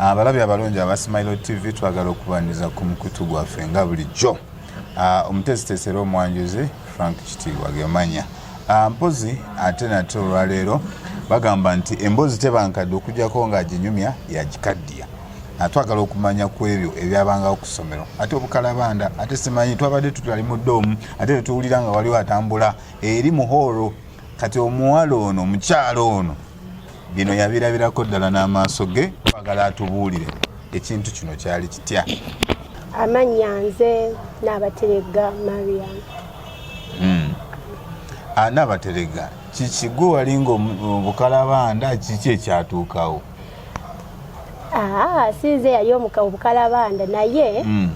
abalabi abalungi aba smilo tv twagala okubaniriza ku mukutu gwaffe nga bulijjo ah, omuteesiteesi era omwanjuzi frank kitiibwa gemanya ah, mpozi ate nate olwaleero bagamba nti emboozi tebankadde okujjako ng'aginyumya yagikaddiya nga twagala okumanya ku ebyo ebyabangawo ku ssomero ate obukalabanda ate simanyi twabadde tutali mu doomu ate tetuwulira nga waliwo atambula eri muhooro kati omuwala ono omukyalo ono bino yabirabirako ddala n'amaaso ge twagala atubuulire ekintu kino kyali kitya amannya nze naabateregga mariam hmm. ah, naabateregga kiki gwe walinga obukalabanda kiki ekyatuukawo aa sinze yali omuka obukalabanda naye mm.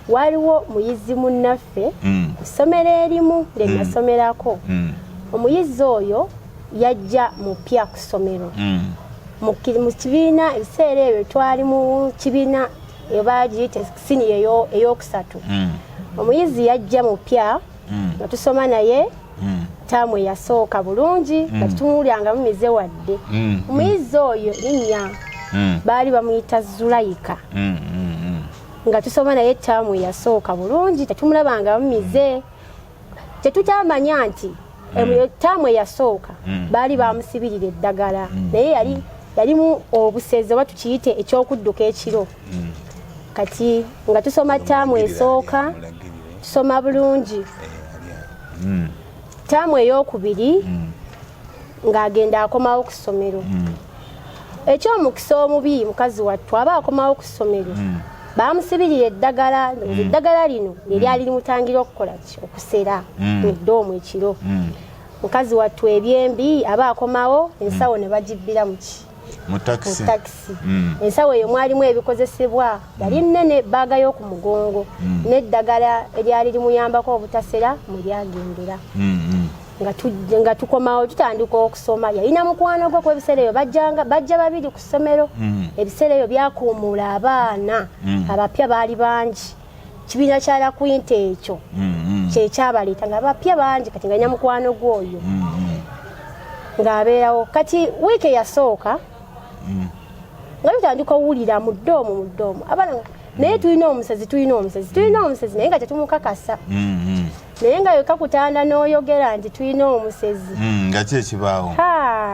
waliwo muyizi munnaffe mm. kusomero erimu lyenasomerako mm. mm. omuyizi oyo yajja mupya kusomero mm. mu kibiina ebiseera ebyo twali mu kibiina ebagiyita siniya eyokusatu mm. omuyizi yajja mupya mm. mm. nga tusoma naye mm. taamu eyasooka bulungi nga mm. tutumulyangamu mize wadde omuyizi oyo linnya baali bamuyita zulayika nga tusoma naye taamu eyasooka bulungi tetumulabangamu mize tetukyamanya nti taamu eyasooka baali bamusibirira eddagala naye yali yalimu obusezi oba tukiyite ekyokudduka ekiro hmm. kati nga tusoma taamu esooka tusoma bulungi eh, hmm. taamu eyokubiri hmm. ng'agenda akomawo ku ssomero ekyomukisa omubi mukazi wattu aba akomawo ku ssomero bamusibirira eddagala eddagala lino neryali limutangira okukola ki okusera mu ddoomu ekiro mukazi wattu ebyembi aba akomawo ensawo ne bagibbiramu ki mu takisi mm. ensawo eyo mwalimu ebikozesebwa yali mm. nene baaga y'oku mugongo mm. n'eddagala eryali limuyambako obutasera mwe lyagendera nga tukomawo tutandika okusoma yalina mukwano gwe ku ebiseera eyo bajja babiri ku ssomero ebiseera eyo byakuumuula abaana abapya baali bangi kibiina kya lakwinta ekyo mm-hmm. kyekyabaleeta nga bapya bangi kati nga nyamukwano gwe oyo mm-hmm. ng'abeerawo kati wiiki eyasooka mm-hmm. nga tutandika owulira mudde omu mudde omu abana naye tulina omusezi tulina omusezi tulina omusezi naye nga tetumukakasa naye nga yoka kutanda n'oyogera nti tulina omusezi nga ki ekibaawo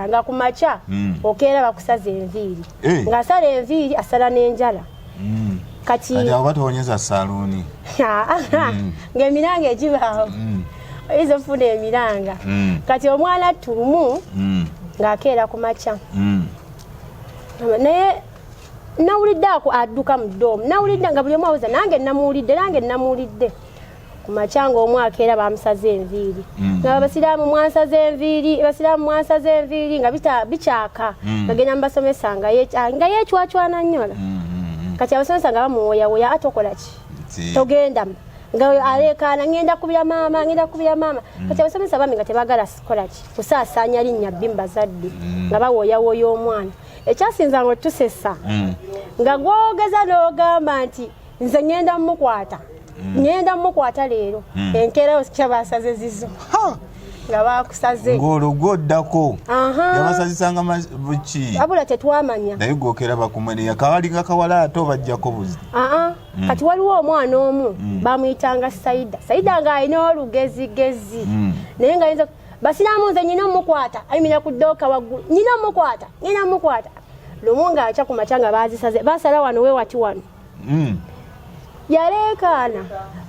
nga ku makya okeera bakusaza enviiri eh. ng'asala enviiri asala n'enjala mm. kati oba towonyeza saluuni mm. ngaemiranga egibaawo mm. oyinza ofuna emiranga mm. kati omwana tulumu mm. ng'akeera ku makya mm. naye nawulidde ako adduka mu doomu nawulidde nga buli omu awuza nange namuwulidde nange namuwulidde ku makya ng'omu akeera bamusaze enviiri mm. nga abasiraamu mwansaze enviiri abasiraamu mwansaze enviiri nga bikyaka mm. ngagenda mu basomesa nga ah, yecwacwana nnyola mm, kati abasomesa nga bamuwoyawoya ate okola ki togenda nga aleekaana ngenda kubira maama ngenda kubira maama kati abasomesa bami nga tebagala kola ki kusaasaanya linnya bbi mu bazadde nga bawoyawoya omwana ekyasinza nga otusesa nga gwogeza n'ogamba nti nze ngenda mukwata mm. ngenda mukwata leero mm. enkeera osikya basaze zizo nga bakusaze ng'olugwo oddako yabasazisanga buki abula tetwamanya naye gwokera bakumweneya kawalinga kawala ate obajjako buzi mm. kati waliwo omwana omu mm. bamuyitanga saida saida ng'alina olugezigezi mm. naye nga yinza basiraamu nze nyina omukwata ayimira ku ddooka waggulu nyina omukwata nyina omukwata lumu ng'akya ku makya nga baazisaze basala wano we wati wano mm. yaleekaana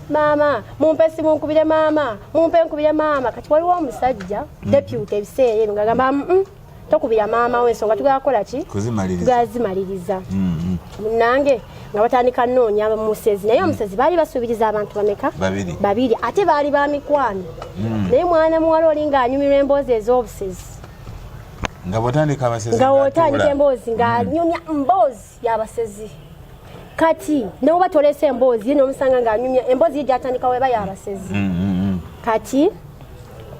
maama mumpe simunkubire maama mumpe nkubire maama kati waliwo omusajja mm. deputy ebiseera ebyo ngagamba mm, tokubira maama we ensonga tugala kukola ki tugala zimaliriza mm, munange nga batandika noonya musezi naye omusezi baali basuubiriza abantu bameka babiri ate baali ba mikwano naye mwana muwala oli ng'anyumirwa emboozi ez'obusezi nga bwotandika abasezi nga wotandika emboozi nga anyumya mboozi yabasezi kati newoba tolese emboozi ye nomusanga ngaanyumya emboozi ye gyatandika weba yabasezi mm, mm, mm. kati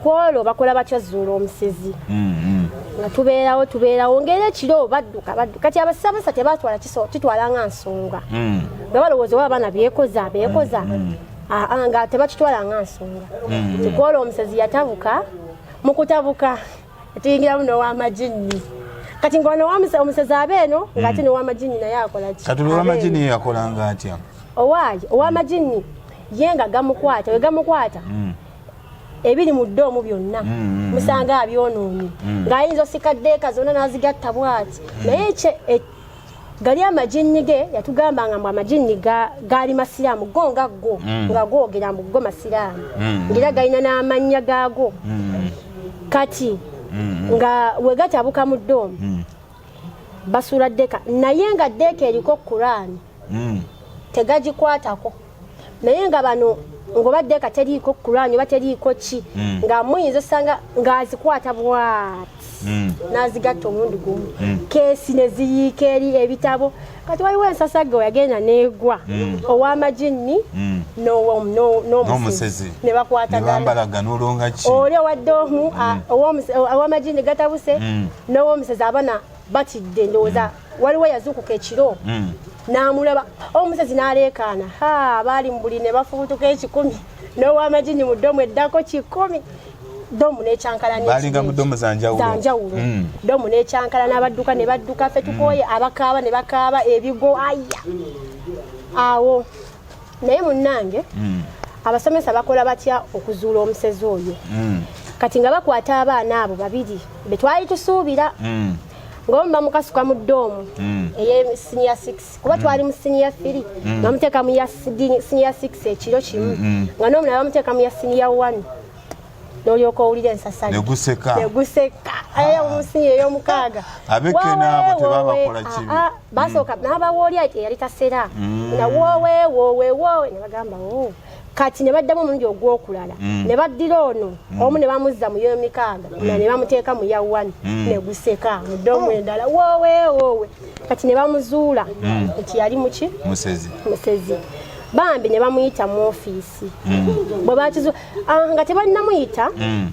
kwolwo bakola batya zuula omusezi nga tubeerawo tubeerawo ngaera ekiro badduka badduka kati abasabasa tebatwala kitwala nga nsonga nga balowooza oba abaana byekoza bekoza ah, ah, nga tebakitwala nga nsonga kwolwo omusezi yatabuka mukutabuka tuyingiramu nowamajinni kati ngono omusezi aba eno hmm. ngaate nowamajinni naye akolaki kati owamajinni ye yakolanga atya owaayi owamajinni hmm. ye nga gamukwata wegamukwata hmm. ebiri mu ddoomu byonna musanga abyonoonye ng'ayinza osikaddeeka zonna n'azigatta bwati naye gali amajinni ge yatugamba nga mbu amajinni gaali masiraamu go nga go mm. nga googera mbu go masiraamu mm. ngaera galina n'amannya gaago mm. kati nga wegatabuka mu doomu basuula ddeeka naye nga ddeeka eriko kuraani tegagikwatako naye nga bano ngobadde ka teriiko kulaanyi oba teriiko ki mm. nga muyinza osanga ng'azikwata bwati mm. n'azigatta omulundi gumu mm. keesi ne ziyiika eri ebitabo kati waliwo ensasagge weyagenda neegwa ow'amaginni n'omusezi ne bakwataganaoli owadde omu ow'amaginni gatabuse n'ow'omusezi abana batidde ndowooza waliwo yazuukuka ekiro hmm. n'amulaba omusezi n'aleekaana ha baali mu buli ne bafubutuka ekikumi n'owamajini mu ddomu eddako kikumi domu nekyankalanabalinga mu domu zanjawulo hmm. domu nekyankala n'abadduka ne badduka fe tukooye hmm. abakaaba ne bakaaba ebigo aya awo naye munnange mm. abasomesa bakola batya okuzuula omusezi oyo mm. kati nga bakwata abaana abo babiri betwali tusuubira mm. ngaomu bamukasuka mu doomu mm. eye siniya 6 kuba mm. twali mu siniya 3 mm. bamuteeka mu siniya 6 ekiro kimu mm. nga noomulala bamuteeka mu ya siniya 1 nolyoka owulira ensasali neguseka neguseka ayo ah. munsi eyomukaaga abekena abo tebabakola kibi ah, ah, basooka mm. nabawooli ati eyali tasera mm. nga wowewowewowe nebagamba o oh. kati ne baddamu omulundi ogwokulala mm. ne baddira ono mm. omu ne bamuzza mu yoyo mikaaga mm. ne bamuteeka mu ya wani ne guseka mu ddomu oh. endala woowe woowe kati ne bamuzuula nti yali muki musezi bambi ne bamuyita mu ofiisi poliisi hmm. bwe bakizuula ah, nga tebannamuyita hmm.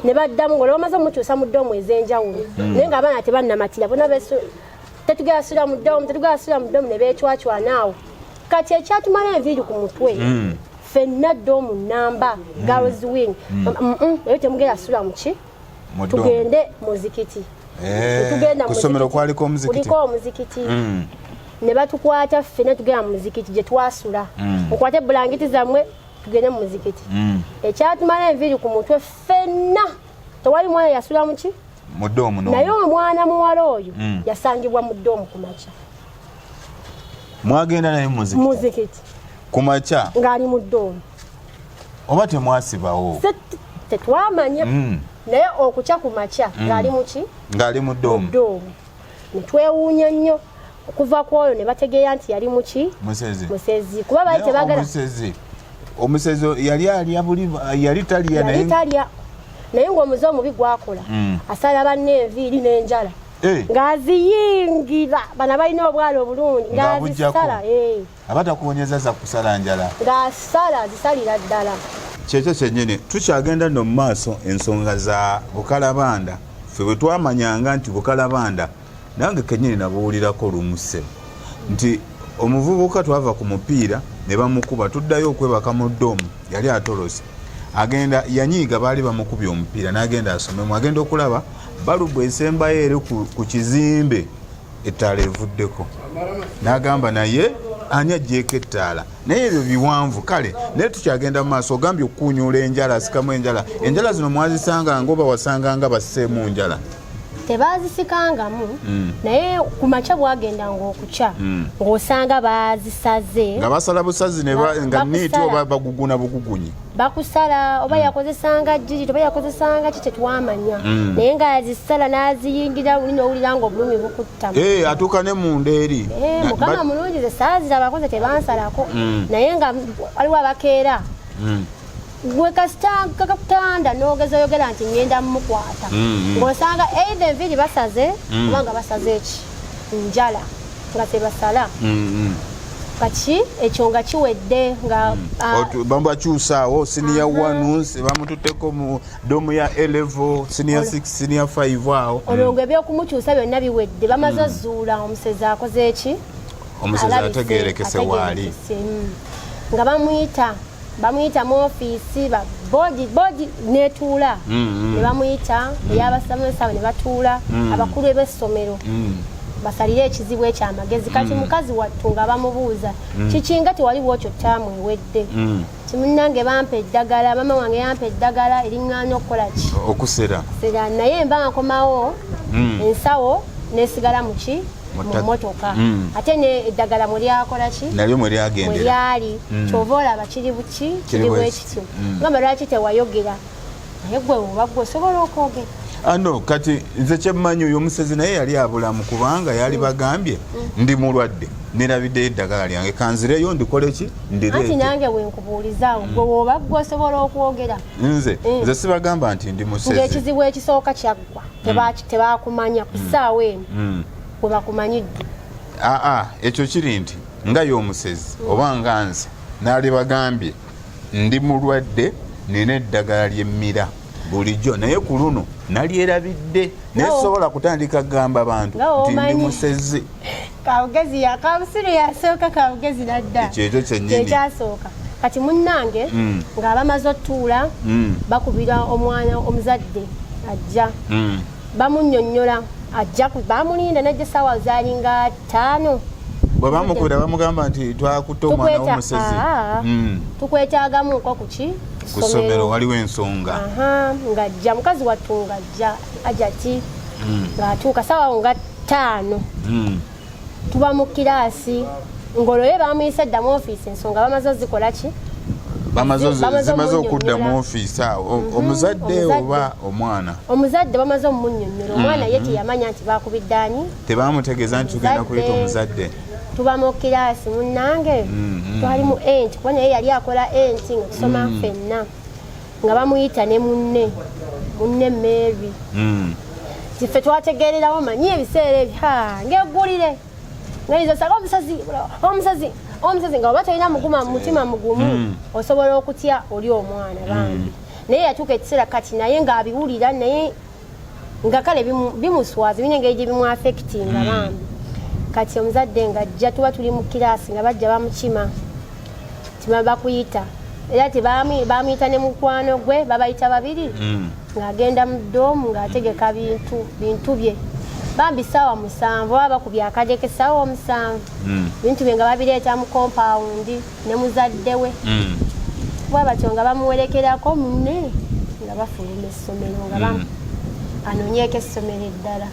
ne baddamu nga olwamaze omukyusa mu ddoomu ez'enjawulo hmm. naye nga abaana tebannamatira bona tetugera sula mu ddoomu tetugera sula mu ddoomu ne beecwacwanaawo kati ekyatumala enviiri ku mutwe ffenna ddoomu nnamba girls wing eyo temugera sula muki tugende muzikiti eh, tugenda kusomero kwaliko omuzikiti kuliko omuzikiti mm. ne batukwata ffe ne tugenda muzikiti gye twasula mm. okwate bulangiti zammwe tugende mu muzikiti mm. ekyatumala enviiri ku mutwe ffenna tewali mwana yasula muki mudoomu naye omwana muwala oyo mm. yasangibwa mu doomu ku makya mwagenda naye muzikiti ku makya ng'ali mu doomu oba temwasibawo tetwamanya mm. naye okukya ku makya mm. ng'ali muki ng'ali mu doomu netwewuunya nnyo okuva ku oyo ne bategeera nti yali muki musezi kuba bali tebagala omusezi yali alya buli yali talya naye talya naye ng'omuze omubi gwakola mm. asala banne enviiri n'enjala eh. ng'aziyingira bana balina obwala obulungi ng'azisala abatakuwonyeza za kusala njala nga sala zisalira ddala kyekyo kyenyini tukyagenda no mumaaso ensonga za bukalabanda fe bwetwamanyanga nti bukalabanda nange kenyini nabuwulirako lumuse nti omuvubuka twava ku mupiira ne bamukuba tuddayo okwebaka mu domu yali atolose agenda yanyiiga baali bamukubye omupiira nagenda asomemu agenda okulaba balubu esembayo eri ku kizimbe ettaala evuddeko n'agamba naye ani ajjeeko ettaala naye ebyo biwanvu kale naye tukyagenda mu maaso ogambye okukuunyuula enjala asikamu enjala enjala zino mwazisanga nga oba wasanga nga baseemu njala tebaazisikangamu hmm. naye ku makya bwagenda ngaokukya hmm. ng'osanga baazisaze nga basala busazi nga niiti oba baguguna bugugunyi bakusala oba mm. yakozesanga jijiti oba yakozesanga ki tetwamanya mm. naye nga azisala n'aziyingira luli nowulira nga obulumi bukutta eh, atuuka ne munda eri eh, mukama mulungi ze saazira abakozi tebansalako mm. naye nga waliwo abakeera gwe kasita kakutanda nogeza oyogera nti ngenda mumukwata ng'osanga eitha enviiri basaze oba nga basaze eki njala nga tebasala mm-hmm. kati ekyo nga kiwedde nga mm. ah, babakyusaawo siniya one bamututeko mu domu ya elevo siniya six siniya five awo olwo mm. nga ebyokumukyusa byonna biwedde bamaze mm. zuula omusezi akoze eki omusezi ategerekese waali nga bamuyita bamuyita mu ofiisi bodi bodi netuula mm-hmm. ne bamuyita mm-hmm. eyabasomesa abo ne batuula mm-hmm. abakulu eb'essomero basalire ekizibu ekyo amagezi kati mukazi wattu nga bamubuuza kikinga tewali bwokyo taamu ewedde kimunange bampa eddagala maama wange yampa eddagala eriŋŋaana okukola ki okusera naye mba nkomawo ensawo nesigala muki mumotoka mm. ate ne eddagala mulyakola ki nalyo mwelyagenderalyali mm. kyova olaba kiri buki kiri bwekityo mm. ngamba lwaki tewayogera naye gwe oba gwe osobola okwogera ano ah, kati nze kyemmanyi oyo omusezi naye yali abulamu kubanga yali bagambye ndi mulwadde nerabidde eddagala lyange kanzireyo ndikole ki ndireeti nange wenkubuulizaawo gwe woba gwe osobola okwogera nze nze sibagamba nti ndi musezi ekizibu ekisooka kya tebakumanya ku ssaawa eno mm. we bakumanyidde aa ekyo kiri nti nga y'omusezi mm. oba nga nze naali bagambye ndi mulwadde nina eddagala ly'emmira bulijjo naye ku luno nalyerabidde naye sobola kutandika kugamba bantu nti ndi musezi kawugezi yakabusiru yasooka kawugezi nadda kyekyo kyenyini kyekyasooka kati munnange mm. nga abamaze otuula mm. bakubira omwana omuzadde ajja mm. bamunyonyola ajja bamulinda najja esaawa zalinga ttaano bwe bamukubira bamugamba nti twakutte omwana womusezi ah, mm. tukwetagamuko kuki kusomero waliwo ensonga ngajja mukazi wattunga ja ajati mm. ng'atuuka sawa nga ttaano mm. tuba mu kiraasi ng'olwoye bamuyisa dda mu ofiisi ensonga bamaze ozikola ki zimaze okudda mu ofiisi awo mhm. omuzadde oba omwana omuzadde bamaze omunyonyola omwana ye mhm. teyamanya nti bakubiddaanyi tebamutegeeza nti tugenda kuyita omuzadde tuba mu kiraasi munnange mhm. twali mu enti kuba naye yali akola enti nga tusoma fenna nga bamuyita ne munne munne Mary mm. kiffe twategeererawo manyi ebiseera ebyo ngegulire ngaizasaka omusazi omusazi omusazi nga oba tolina muguma mutima mugumu mm. osobola okutya oli omwana bambi mm. naye yatuuka ekiseera kati naye ng'abiwulira naye nga kale bimuswaza bine engeri gye bimwafekitinga hmm. bambi kati omuzadde nga ajja tuba tuli mu kiraasi nga bajja bamukima tima bakuyita era tebamuyita ne mukwano gwe babayita babiri hmm. ng'agenda mu doomu ng'ategeka bintu bintu bye bambi saawa musanvu oba bakubya akadeke saawa omusanvu hmm. bintu bye nga babireeta mu kompawundi ne muzadde we mm. bwa batyo nga bamuwerekerako munne nga bafuluma essomero nga mm. anonyeeko essomero eddala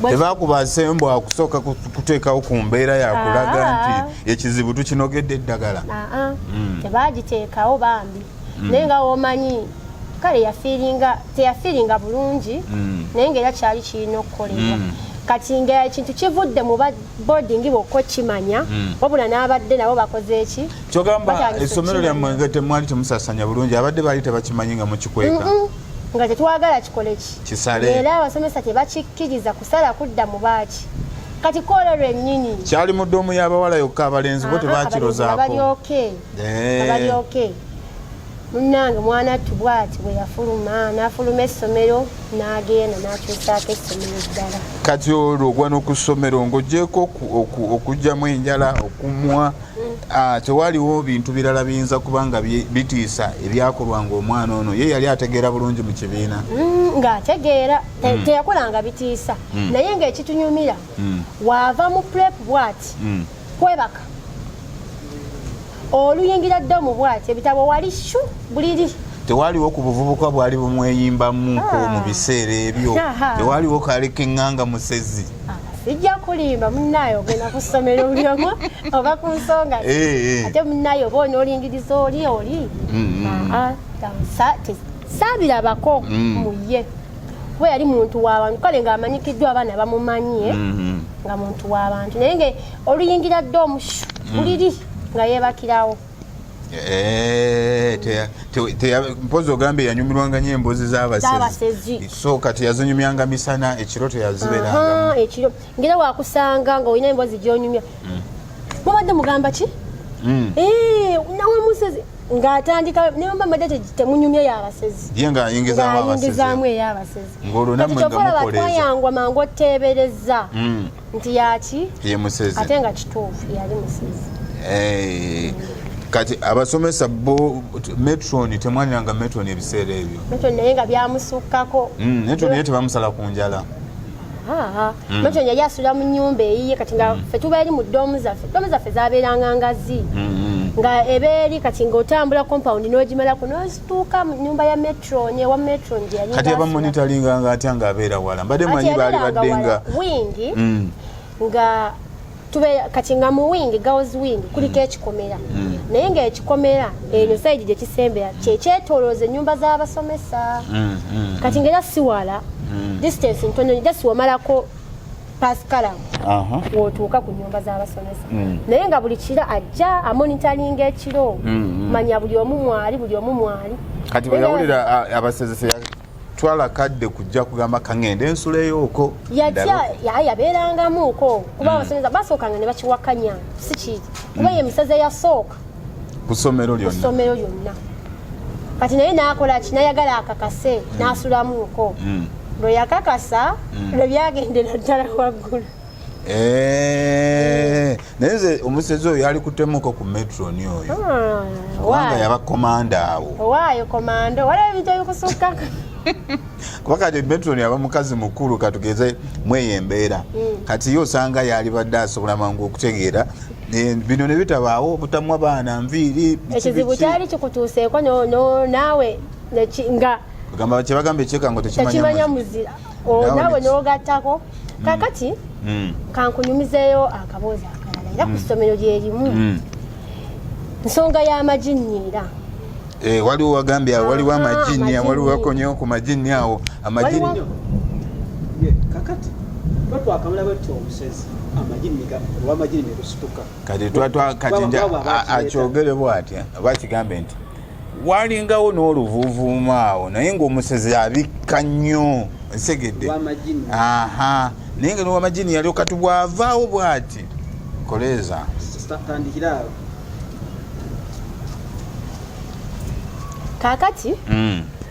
tebakuba nsembo akusooka kuteekawo ku mbeera yakulaga ah. nti ekizibu tukinogedde eddagala ah, ah. Mm. tebagiteekawo bambi naye nga womanyi kale yafiiringa teyafiiringa bulungi naye nga era kyali kirina okukolebwa kati nga ekintu kivudde mu boarding bwokka okimanya hmm. wabula n'abadde nabo bakoze eki kyogamba essomero lyammwe nga temwali temusasanya bulungi abadde baali tebakimanyi nga mukikweka nga tetwagala kikole ki kisale era abasomesa tebakikkiriza kusala kudda mu baaki kati koola lwennyini kyali mu ddoomu y'abawala yokka abalenzi bo ah, ah, tebakirozaako abali oke abali oke munnange mwana ttu bwati bwe yafuluma n'afuluma essomero n'agenda n'akyusaako essomero eddala kati olwo ogwa n'oku ssomero ng'ogyeko okugyamu enjala okumwa ah, tewaliwo bintu birala biyinza kuba nga bitiisa ebyakolwa ng'omwana ono ye yali ategeera bulungi mu kibiina mm, ng'ategeera mm. teyakolanga bitiisa mm. naye ng'ekitunyumira waava mu prep bwati kwebaka oluyingira ddomu bwati ebitabo wali shu buliri tewaliwo ku buvubuka bwali bumweyimbamu ko ah. mu biseera ebyo tewaliwo kaali keŋŋanga musezi ah, sijja kulimba munaye ogenda ku ssomero bulyomu oba ku nsonga eh, eh. ate munaye oba onoolingiriza oli oli mm, mm. Ah, saabirabako mm. muye kuba yali muntu w'abantu kale ng'amanyikiddwa abaana bamumanyi eh? mm-hmm. nga muntu w'abantu naye nga oluyingira dde omushu mm. buliri nga yeebakirawo eh, mpozi ogamba eyanyumirwanga nyo emboozi z'abasezi so kati yazinyumyanga misana ekiro teyaziberanga ekiro ngera wakusanga nga olina emboozi gyonyumya mm. mubadde mugamba ki mm. eh, nawe musezi nga atandika ne mama madete temunyumye ya basezi ye nga ayingiza wa basezi ayingiza mu ya basezi ngolo na mwenga mukoleza kati yangwa mango tebereza mm. nti yaki ye musezi atenga kitofu yali musezi eh kati abasomesa bo metron temwanira nga metron ebiseera ebyo metron naye nga byamusukkako mm, metron naye tebamusala ku njala nakyo hmm. yali asula mu nyumba eyiye kati nga hmm. fe tubeeri mu doomu zaffe doomu zaffe zabeeranga ngazi hmm, nga ebeeri kati nga otambula compound nogimalako nozituuka mu nyumba ya metro newa metro ngyeyakati abamonitalinga nga atya nga abeera wala mbadde manyi baali badde nga wingi nga tube kati nga mu wing girls wing kuliko ekikomera mm. naye nga ekikomera enyo mm. saidi gyekisembera kyekyetolooza enyumba z'abasomesa mm, kati nga era siwala distance ntonyo just wamalako pasikala wotuuka ku nyumba z'abasomesa naye nga buli kiro ajja amonitalinga ekiro manya buli omu mwali buli omu mwali kati bweyawulira abasezesa twala kadde kujja kugamba kangende ensula eyoko yatya yabeerangamuko kuba hmm. abasomesa basookanga ne bakiwakanya si kiri kuba ye emiseze hmm. yasooka ku ssomero lyonna kati naye nakola ki nayagala akakase hmm. nasulamuko lwe yakakasa lwe byagendera ddala waggulu Eh, naye nze omusezi oyo yali kutemuko ku metroni oyo ah, kubanga yaba komanda awo owaayo komanda waliwo ebintu ebikusukka kuba kati metroni aba mukazi mukulu katugeze mweyo embeera mm. kati ye osanga yalibadde asobola mangu okutegeera eh, bino nebitabaawo obutamwa baana nviiri ekizibu kyali kikutuuseeko naawe nga kyebagambe ekyekango tekimanya muzira oh, nawe nogattako mm. kakati mm. kankunyumizeeyo akaboozi akalala era ku mm. ssomero lyerimu nsonga y'amajinni era eh, waliwo wagambye awo waliwo ah, amajinni waliwo wakonyewo ku majinni awo amajinni kakati twatwakamula batya obusezi kati twatwa kati nja akyogere bwatya bakigambe nti walingawo n'oluvuuvuuma awo naye ng'omusezi abikka nnyo nsegedde aha naye nga nowamajini yalio kati bwavaawo bwati koleeza kakati mm.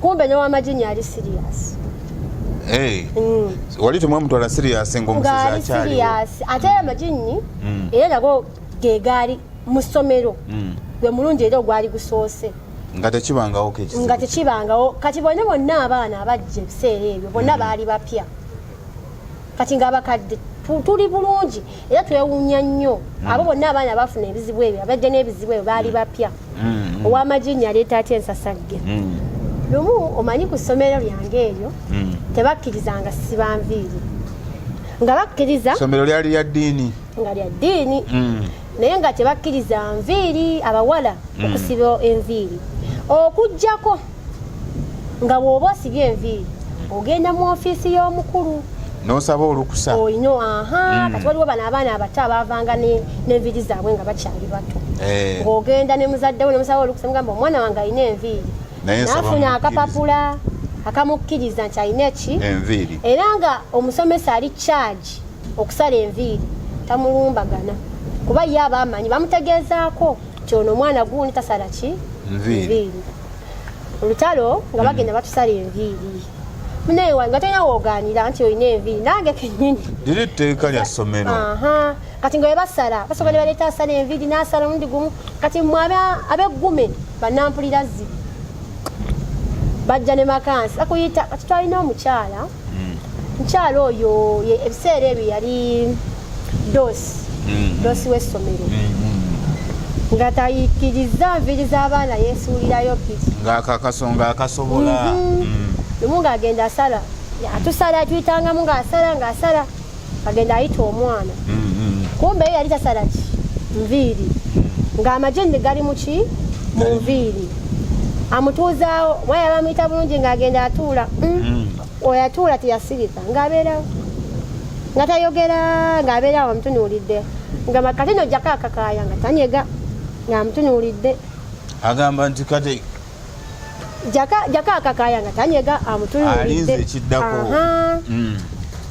kumbe ne wamajini ali serious Hey. Mm. wali temwamutwala serious ngaomusezi akyali ate amajinyi mm. era nago gegaali mu ssomero mm. gwe mulungi era ogwali gusoose nga tekibangawo nga tekibangawo kati bonna bonna abaana abajja ebiseera ebyo bonna mm. baali bapya kati nga abakadde tuli bulungi era twewunya nnyo mm. abo bonna abaana bafuna ebizibu ebyo abajja n'ebizibu ebyo baali mm. bapya mm. owamajinya aleeta atya ensasagge lumu omanyi ku ssomero lyange eryo tebakkirizanga sibanviiri nga bakkiriza ssomero lyali lya ddiini nga lya ddiini naye nga tebakkiriza nviiri abawala okusiba enviiri okugjako nga bw'oba osibye enviiri ogenda mu ofiisi y'omukulu nosaba olukusa oyino aha mm. kati waliwo bano abaana abato abavanga n'enviiri zaabwe nga bakyali bato eh. ng'ogenda ne muzadde we nemusaba olukusa mugamba omwana wange alina enviiri nafuna akapapula akamukkiriza nti alina eki enviiri era nga omusomesa ali kyagi okusala enviiri tamulumbagana kuba ye aba amanyi bamutegeezaako nti ono omwana gundi tasala ki nviiri olutalo nga bagenda batusala enviiri munaye wange atolina woganira nti olina enviiri nange kenyini liri tteeka lya ssomero kati nga webasala basoka ne baleeta asala enviiri nasala omundi gumu kati mwe abeggume banampulira zibi bajja ne makansi akuyita kati twalina omukyala mukyala hmm. oyo ebiseera ebyo yali doosi mm-hmm. doosi w'essomero mm-hmm. nga tayikirizza nviri z'abaana yeesuulirayo piki ng'akakasonga akasobola mm-hmm. lumu ng'agenda asala atusala tuyitangamu ng'asala ng'asala agenda ayita omwana kumbe yali tasala ki nviiri ng'amagye ne gali mu ki mu nviiri amutuuzaawo mwaya bamuyita bulungi ng'agenda atuula mm. oyo atuula teyasirika ng'abeerawo nga tayogera ng'abeerawo amutunuulidde nga makati no jjako akakaaya nga tanyega ng'amutunuulidde agamba nti kati jjako akakaaya nga tanyega amutunuulidde ekiddako mm.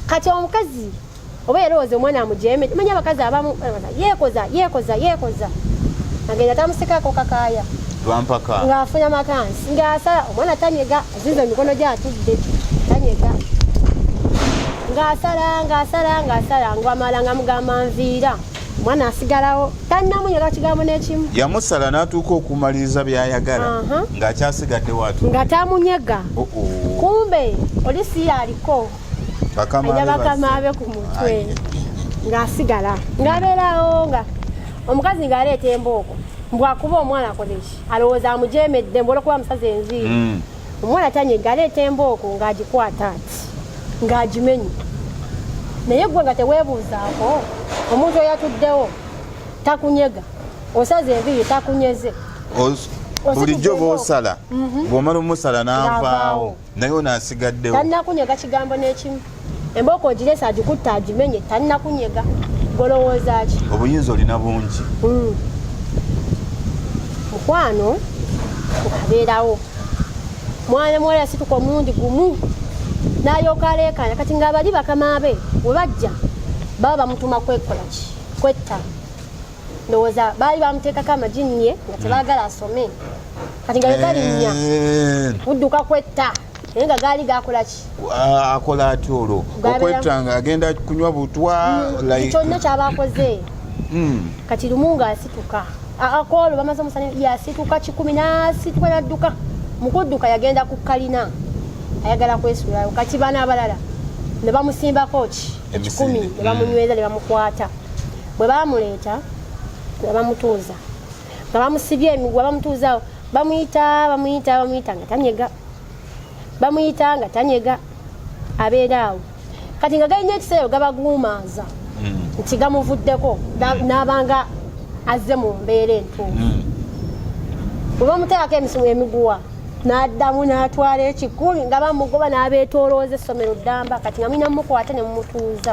kati omukazi oba yalowooza omwana amujeemere manya abakazi abamu yeekoza yeekoza yeekoza agenda tamusikako kakaaya lwampaka ng'afuna makansi ng'asala omwana tanyega azinza emikono gyatudde tanyega ng'asala ng'asala ng'asala ngwamala nga mugamba nviira omwana asigalawo tannamunyega kigambo n'ekimu yamusala n'atuuka okumaliriza by'ayagala ng'akyasigadde watu nga tamunyega oh, oh. kumbe oli siyaliko aja bakamaabe ku mutwe ng'asigala ng'abeerawo nga omukazi ng'aleeta embooko mbwakuba omwana akoleki alowooza amujeemedde mbwolwokuba musazi enviiri hmm. omwana tanye ng'aleeta embooko ng'agikwata ati ng'agimenye naye gwe nga teweebuuzaako omuntu oyatuddewo takunyega osaza enviiri takunyeze bulijjo bwosala mhm. bwomala omusala n'avaawo naye ono asigaddewo talinakunyega kigambo n'ekimu embooko ogiresa agikutte agimenye talinakunyega golowooza ki obuyinza olina bungi hmm. mukwano abeerawo mwana muwala yasituka omulundi gumu nalyoka aleekaana kati nga abali bakama be we bajja baba bamutuma kwekolaki kwetta ndowooza baali bamuteekako amajini ye nga tebaagala asome kati nga yegalinya kudduka eh. kwetta naye nga gaali gakolaki akola ati olwo okwetta nga agenda kunywa butwa hmm, kyonna kyaba akoze hmm. kati lumu nga asituka akoolo bamaze omusana yasituka kikumi nasituka nadduka mukudduka yagenda ku kalina ayagala kwesulayo kati bana abalala nebamusimbako ki ekikumi nebamunyweza nebamukwata bwe baamuleeta nga bamutuuza nga bamusibye emigwa bamutuuzawo bamuyita bamuyita bamuyita nga tanyega bamuyita nga tanyega abeera awo kati nga galina ekiseera gabaguumaaza hmm. nti gamuvuddeko hmm. n'abanga azze mu mbeera entuufu hmm. bwe bamuteekako emisimu emiguwa n'addamu n'atwala ekikumi nga bamugoba n'abeetoolooza essomero ddamba kati nga mulina mumukwata ne mumutuuza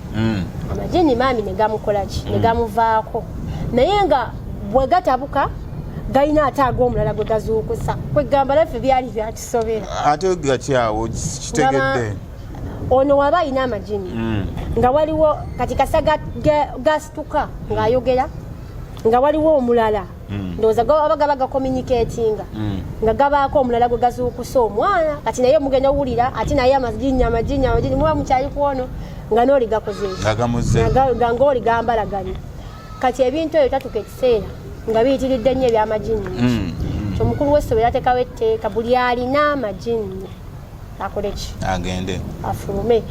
mm. amajini maami negamukolaki mm. negamuvaako naye nga bwegatabuka galina ate ago omulala gwe gazuukusa kwegamba naffe byali byakisobera ate gatyawo kitegedde ono waba alina amajini mm. nga waliwo kati kasaga gasituka ng'ayogera nga waliwo omulala mm. ndowooza gaba gaba gakominiketinga mm. nga gabaako omulala gwe gazuukusa omwana kati naye omugenda owulira ati naye amajinya amajinya amajinya muba mukyali kwono nga nooli gakozeekigange oli gambalaganye kati ebintu ebyo tatuka ekiseera nga biyitiridde nnyo ebyamajinya mm. omukulu w'essomero atekawo etteeka buli alina amajinya akoleki agende afulume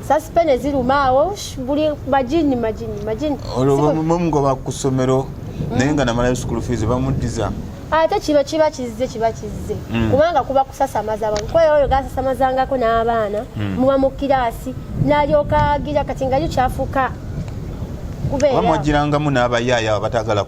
sasipene ziruma awo buli majini majini majini olwo bamugoba ku ssomero mm. naye nga namalayo school fees bamuddiza ate kino kiba kizze kiba kizze mm. kubanga kuba kusasamaza abantu kuba oyo gasasamazangako n'abaana mm. muba mu kiraasi n'alyoka agira kati nga yo kyafuuka kubeera bamwagirangamu n'abayaayo abatagala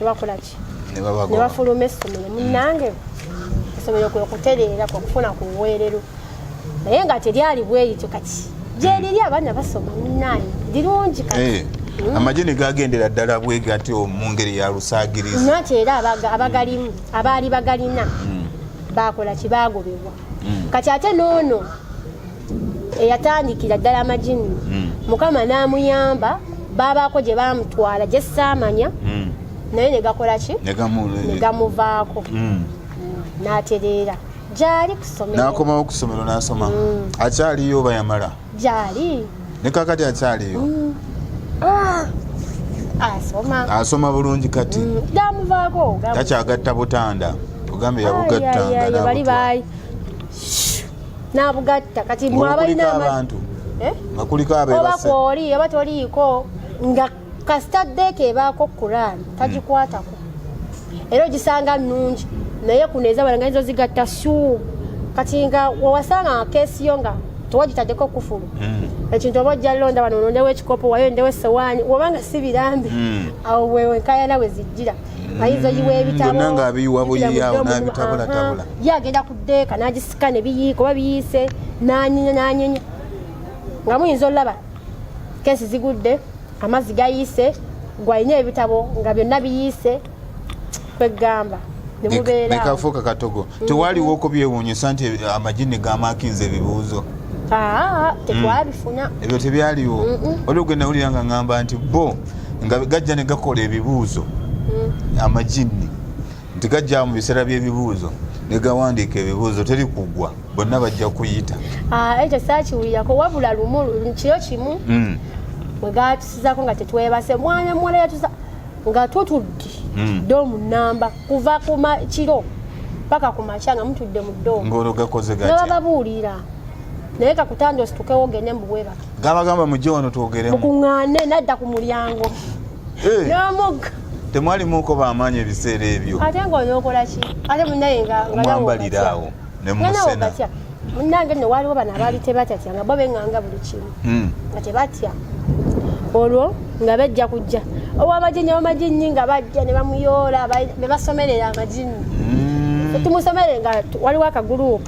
nebakola ki nebafuluma essomero munange essomero kwe kutereera kwe kufuna ku buweerero naye nga teryali bweyityo kati gyeriri abaana basoma munange lirungi kati eh. Mm. amagye ne gagendera ddala bwe gatyo mu ngeri ya lusaagirizi nati era abagalimu abaali bagalina mm. baakola kibaagobebwa mm. kati ate n'ono eyatandikira ddala amajini hmm. mukama n'amuyamba baabaako gye baamutwala gye saamanya hmm. naye ne gakola ki ne gamuvaako hmm. n'atereera gyali kusomero n'akomawo ku ssomero n'asoma akyaliyo oba yamala gyali ne kakati akyaliyo ah! asoma bulungi kati mm, gamuvaako takyagatta butanda ogambye yabugattanga nabugatta kati mwe abalina abantu eh? nga kuliko oba kwoli oba toliiko nga kasita ddeeka ebaako kuraani tagikwatako hmm. era ogisanga nungi naye kuno ezabala nga nizo zigatta suu kati nga wewasanga kesi yo nga tewagitaddeko kufulu hmm. ekintu oba ojja londa wano olondewo ekikopo wayo ndewo esowaani wobanga si birambi hmm. awo wewenkayana we zijjira ayinza oyiwa ebitabo nga abiyiwa buyiyawo nabitabulatabula ye agenda ku deeka nagisika ne biyiika oba biyiise nanyenya nanyenya nga muyinza olulaba kesi zigudde amazzi gayiise gwalina ebitabo nga byonna biyiise kwegamba nekafuuka katogo mm. tewaliwo okubyewunyisa nti amajini gamakinza ebibuuzo ah, ah, ah, tekwabifuna mm. ebyo tebyaliwo oli ogenda wulira nga ngamba nti bo nga gajja ne gakola ebibuuzo hmm. amajinni nti gajja mu biseera by'ebibuuzo ne gawandiika ebibuuzo teri kugwa bonna bajja kuyita ah, ekyo saakiwulirako wabula lumu kiro kimu hmm. bwe gatusizako nga tetwebase mwana muwala yatusa nga tutudde hmm. doomu namba kuva ku kiro paka ku makya nga mutudde mu doomu ngaologakoze gatya nabababuulira naye kakutanda ositukewo ogende mubwebaka gabagamba mujje wano twogeremu mukuŋŋaane nadda ku mulyango eh. n'omugga temwalimuuko bamaanyi ebiseera ebyo ate ngaonokola ki ate munaye ngamwambalira awo ne musena munange no waliwo bano abaali tebatatya nga bo beŋŋanga buli kimu hmm. nga tebatya olwo nga bajja kujja owamajini wamajini nga bajja ne bamuyoola ne basomerera amajini hmm. tumusomere nga waliwo akaguluupu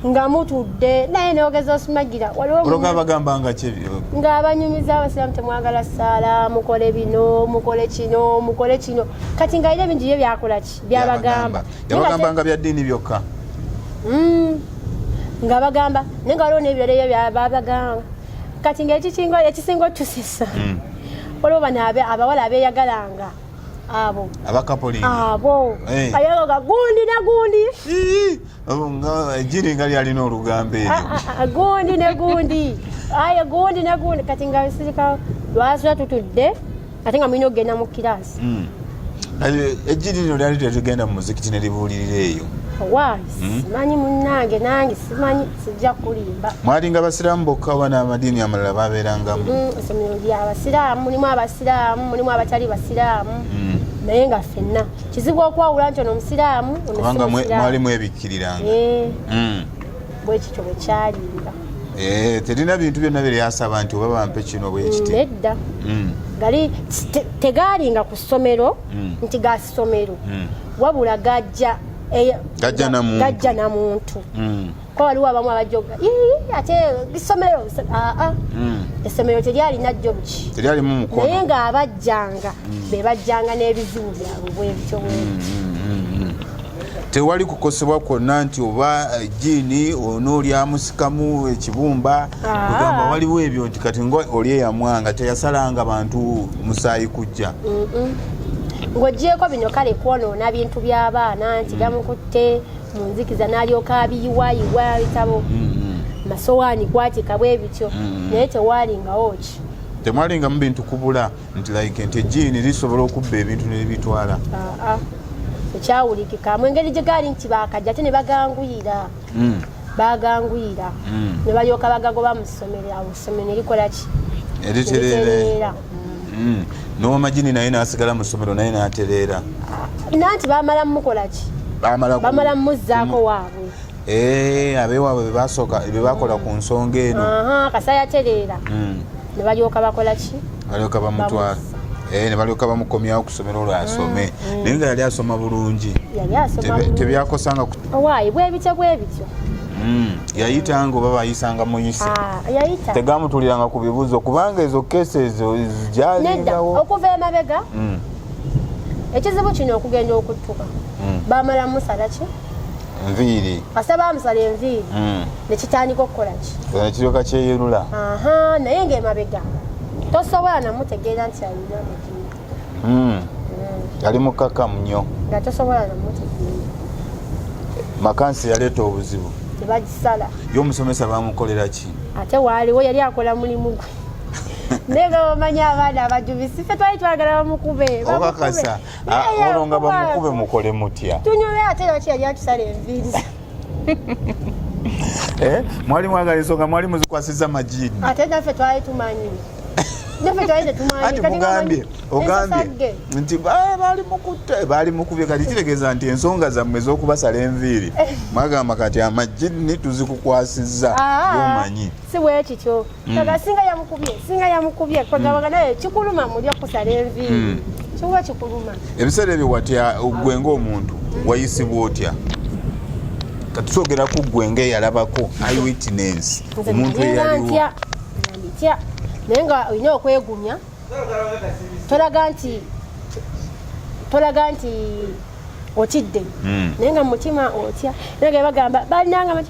nga mutudde naye nogeza osmagira waliwogabagamba nga kyebyo nga abanyumiza abasiramu temwagala saala mukole bino mukole kino mukole kino kati nga ire bingi ye byakola ki byabagamba yabagamba nga bya ddiini byokka mm. nga bagamba naye nga waliwo nebirala ebyo byabagamba kati nga ekikinga ekisinga otusisa mm. waliwo bano abawala abeyagalanga abo abakapoliabo eh. ayoga gundi na gundi jiri nga lyalina olugambo eryo ah, ah, ah, gundi ne gundi aye gundi ne gundi kati nga sirika lwasula tutudde ate nga mulina okugenda mu kiraasi hmm. ejjiri lino lyali tetugenda mu muzikiti ne libuulirira eyo wa hmm? simanyi munange nange simanyi sijja kulimba mwalinga basiraamu bokka oba n'amadiini amalala babeerangamu hmm, essomero lyabasiraamu mulimu abasiraamu mulimu abatali basiraamu hmm. naye nga fenna kizibu okwawula nti ono musiraamu kubanga mwalimu ebikkiriranga eh. hmm. bwekityo bwekyalinga eh, terina bintu byonna byeryasaba nti oba bampe kino bwekiti hmm, nedda hmm. gali tegaalinga ku ssomero nti ga ssomero wabula gajja eh, gajja namuntu kuba waliwo abamu abajoga ate isomero aa ah, ah. hmm. essomero teryalina jobuki naye ng'abajjanga hmm. be bajjanga n'ebizibu byabwe bwebityo bwebiti hmm, tewali kukosebwa kwonna nti oba eh, jiini onoolyamusikamu ekibumba ah. ogamba waliwo ebyo nti kati nga oli eyamwanga teyasalanga bantu musaayi kujja ng'ogyeko bino kale kwonoona bintu by'abaana nti gamukutte mm. mu nzikiza n'alyoka abiyiwayiwa bitabo mm-hmm. masowaani kwatika bwe bityo mm-hmm. naye tewaalingawo ki temwalingamu bintu kubula nti like nti ejiini lisobola okubba ebintu nebitwala ekyawulikika mu engeri gye gaali nti bakajja ate ne baganguyira mm. baganguyira mm. ne balyoka bagagoba mu ssomero awo ssomero ne likola ki eritereera mm. n'owamajini naye nasigala mu ssomero naye natereera nanti bamala mumukolaki bamala mumuzzaako mm. waabwe eh, abewaabwe bebasooka bebakola ku nsonga eno kasa yatereera mm. ne balyoka bakolaki balyoka bamutwala eh, ne balyoka bamukomyawo kusomera olwo asome mm, naye nga yali asoma bulungi tebyakosanga owaayi bwebityo bwebityo Hmm, yayita nga oba bayisanga muyise ah, tegamutuliranga ku bibuuzo kubanga ezo kesi ezo jalinawo okuva emabega hmm. ekizibu kino okugenda okuttuka hmm. bamala musala ki nviiri kasa bamusala enviiri nekitandika okukola ki kiryoka kyeyerula naye ngaemabega tosobola namutegeera nti alina mm. yali mukakamu nnyo nga tosobola nomutegeera makansi yaleeta obuzibu tebagisala ye omusomesa bamukolera ki ate waaliwo yali akola mulimu gwe naye nga bamanya abaana abajubisi fe twali twagala bamukube obakasa ah, olwo nga bamukube mukole mutya tunyumye ate lwaki yali atusala enviiri eh mwali mwagala ensonga mwali muzikwasiza majini ate naffe twali tumanyi naffe twali tetumanyi ati mugambye ogambye nti ah, baali mukutte baali mukubye kati kitegeeza nti ensonga zammwe ez'okubasala enviiri eh. mwagamba kati amajini tuzikukwasizza ah, omanyi si bwekityo mm. kaka singa yamukubye singa yamukubye kwegabanga mm. naye kikuluma mulya kusala enviiri mm. kiwa kikuluma ebiseera ebyo watya gwe ngaomuntu wayisibwa otya kati twogera ku gwe nga eyalabako iwitness omuntu eyaliwo naye nga olina okwegumya tolaga nti tolaga nti otidde hmm. naye nga mumutima otya naye nga bagamba balinanga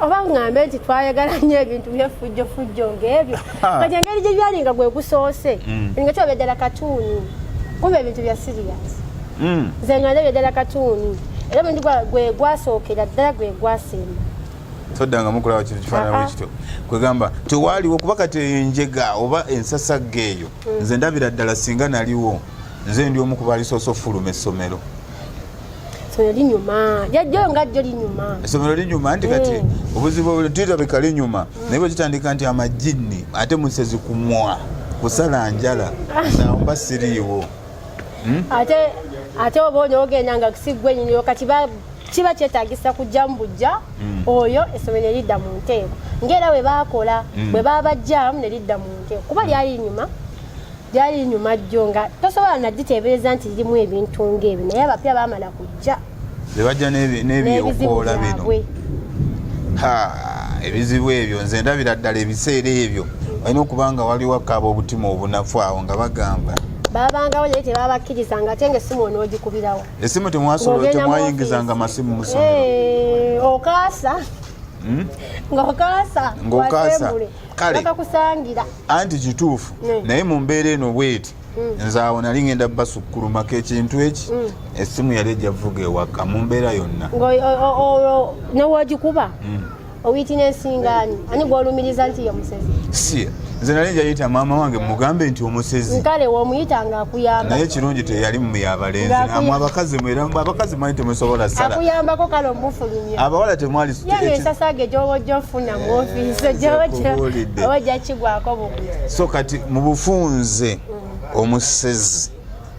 oba ŋŋambe nti twayagala nnyo ebintu byefujjo fujjo ng'ebyo kati engeri gye byali nga gwe gusoose mm. nga kiba byaddala katuuni kuba ebintu bya siriyasi mm. nze nga nda byaddala katuuni era omuntu gwe gwasookera ddala gwe gwasemba toddanga mukulaba kintu kifaanana bwe kityo kwegamba tewaaliwo kuba kati eyo enjega oba ensasagga eyo mm. nze ndabira ddala singa naliwo nze ndi omu ku baalisoose okufuluma essomero essomero linyuma jajjayo nga jjo linyuma essomero linyuma nti kati eh. obuzibu tulabika linyuma mm. naye bwekitandika nti amajinni ate musezi kumwa kusala njala naomba siriiwo hmm? ate ate oba oli ogenda nga kusigwe nyiniro kati kiba kyetagisa kujja mu bujja hmm. oyo essomero nelidda mu nteeko ngaera bwe bakola hmm. bwe babajjamu nelidda mu nteeko kuba lyali nyuma gyali nyuma jjo nga tosobola nagiteebereza nti lirimu ebintu ngaebi naye abapya bamala kujja bebajja n'ebyokoola bino ebizibu ebyo nze ndabira ddala ebiseera ebyo olina okuba nga waliwo akaaba obutima obunafu awo nga bagamba babangawo naye tebabakkiriza nga ate nga essimu onoogikubirawo essimu temwasobola temwayingizanga masimu musomero eh, okaasa hmm? ngaokaasa ngaokaasa kale bakakusangira anti kituufu mm. naye mu mbeera eno bweti mm. nze awo nali ngenda basukkulumako ekintu eki mm. essimu yali ejjavuga ewaka mu mbeera yonna newagikuba owitinensingani ani gwolumiriza nti ye musezi si nze nali njayita maama wange mugambe nti omusezi kale womuyita nga akuyamba naye kirungi teyali muyabalenzi amwe abakazi mwera abakazi mwali temusobola sala akuyambako kale omufulumya abawala temwali yeyo ensasage gyobojja ofuna so kati mubufunze omusezi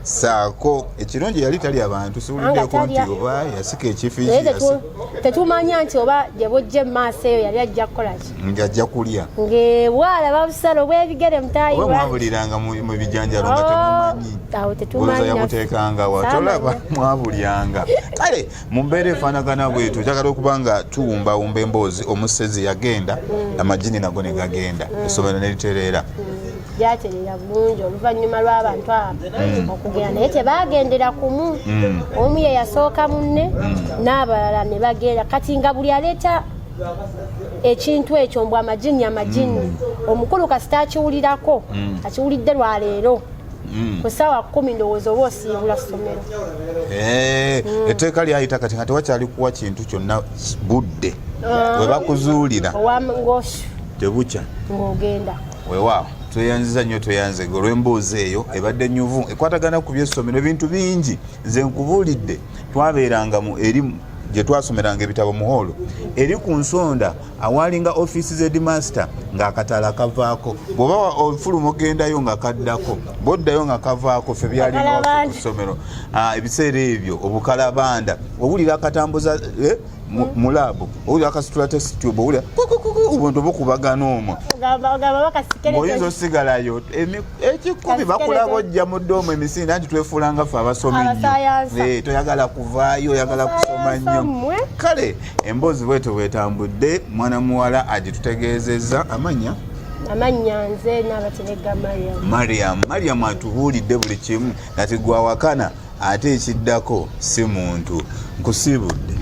saako ekirungi yali tali abantu siwuliddeko nti oba yasika ekifitetwmanya nti oba gyebujja emumaaso eyo yali ajja kukolaki nti ajja kulya ngaebwala babusala obwebigere mutayimwabuliranga mu bijanjalo nga oh, temumanyi yabuteekanga wa tolaba mwabulyanga kale mu mbeera efaanagana bwetyo kyagala okuba nga tuwumbawumba emboozi omusezi yagenda mm. amajini nago ne gagenda mm. essomero ne litereera mm. gyaterera bulungi oluvannyuma lw'abantu abo okugenda naye tebaagendera kumu omu ye yasooka munne n'abalala ne bagenda kati nga buli aleeta ekintu ekyo mbw amajini amajini omukulu kasita akiwulirako akiwulidde lwaleero Mm. ku saawa kumi ndowooza oba osiibula ssomero eh, mm. etteeka lyayita kati nga tewakyali kuwa kintu kyonna budde ah. we bakuzuulira ngoshu tebukya ng'ogenda wewaawo tweyanziza nnyo tweyanze ge olw'emboozi eyo ebadde nyuvu ekwatagana ku byessomero ebintu bingi nze nkubuulidde twabeeranga mu erimu gye twasomeranga ebitabo mu hoolo eri ku nsonda awaalinga ofiisi z'edimasita ng'akatala kavaako bw'oba ofuluma ogendayo nga kaddako bw'oddayo nga kavaako ffe byalinga ku ssomero ah, ebiseera ebyo obukalabanda owulira akatambuza eh, mu laabu owulira akasitula tesitube owulira obuntu bukubagana omwo oyinza osigalayo ekikumi bakulaba ojja mu doomu emisinde anti twefuulanga ffe abasomi nnyo eh, toyagala kuvaayo oyagala kusoma nnyo kale emboozi bwetyo bwetambudde mwana muwala agitutegeezezza amanya amannya nze naabateregga mariam mariam mariam atubuulidde buli kimu nati gwawakana ate ekiddako si muntu nkusiibudde